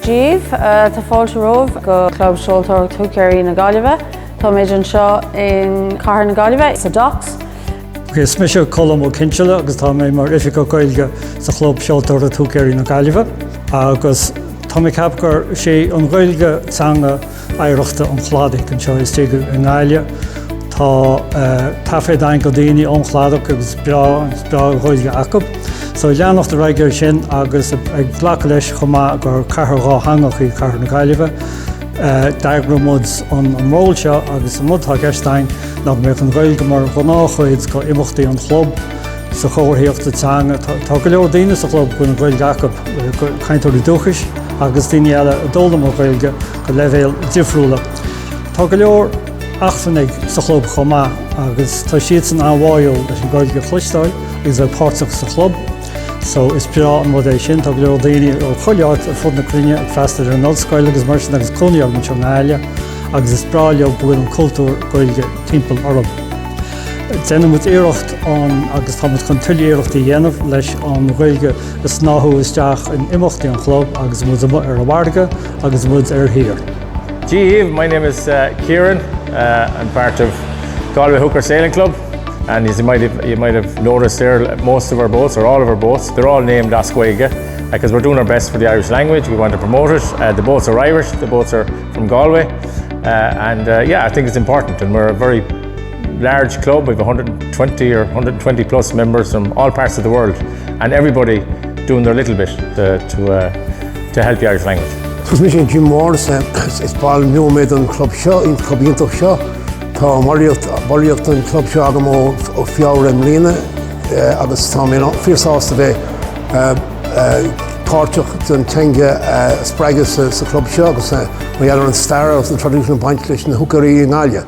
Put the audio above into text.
Dia dhaoibh tá fáilte romhaibh go Club Seoltóireacht Húicéirí na Gaillimhe. Táimid anseo in Cathair na Gaillimhe, sa Docks. Is mise Colm Ó Cinnseala agus tá mé mar Oifigeach Gaeilge sa Chlub Seoltóireacht Húicéirí na Gaillimhe agus tá mé ag ceapadh gur sé an Ghaeilge teanga oidhreachta an Chladaigh anseo istigh i nGaillimh. Tá taifead againn go daoine ón Chladach agus breá-Ghaeilge acab. So leanacht ar aghaidh ar sin agus ag glacadh leis chomh maith gur cathair dhátheangach í cathair na Gaillimhe. D'eagraigh muid an ról seo agus an rud atá i gceist againn ná go mbeadh an Ghaeilge mar ghnáthchuid go imeachtaí an chlub. Sa chomharthaíocht teanga, tá go leor daoine sa chlub go bhfuil an Ghaeilge acab, cainteoirí dúchais agus daoine eile a d'fhoghlaim an Ghaeilge go leibhéil difriúla. Tá go leor eachtrannaigh sa chlub chomh maith agus tá siadsan an-bháúil leis an Ghaeilge a chloisteáil agus a bheith páirteach sa chlub. So, is breá an rud é sin. Tá go leor daoine ó chuile áit ar fud na cruinne ag freastal ar an ollscoil agus mar sin agus cónaí orthu anseo i nGaillimh agus is breá leob go bhfuil an cultúr Gaeilge timpeall orab. Déanann muid iarracht an, agus tá muid chun tuilleadh iarrachtaí a dhéanamh, leis an Ghaeilge a shnáthadh isteach in imeachtaí an chlub agus muid ar an bhfarraige agus muid ar thír. Dia dhaoibh, my name is Kieran, I'm part of Galway Hooker Sailing Club and as you might have you might have noticed there most of our boats or all of our boats they're all named as Gaeilge because we're doing our best for the Irish language, we want to promote it, uh, the boats are Irish, the boats are from Galway uh, and uh, yeah I think it's important and we're a very large club with 120 or 120 plus members from all parts of the world and everybody doing their little bit to help the Irish language. Is mise Jim Morris is ball nua mé den club seo, den club iontach seo. Tá ballraíocht den club seo agam ó Feabhra i mbliana agus tá mé fíorshásta bheith páirteach don teanga a spreagadh sa chlub seo agus mar gheall ar an stair agus an traidisiún ag baint leis na húicéirí i nGaillimh.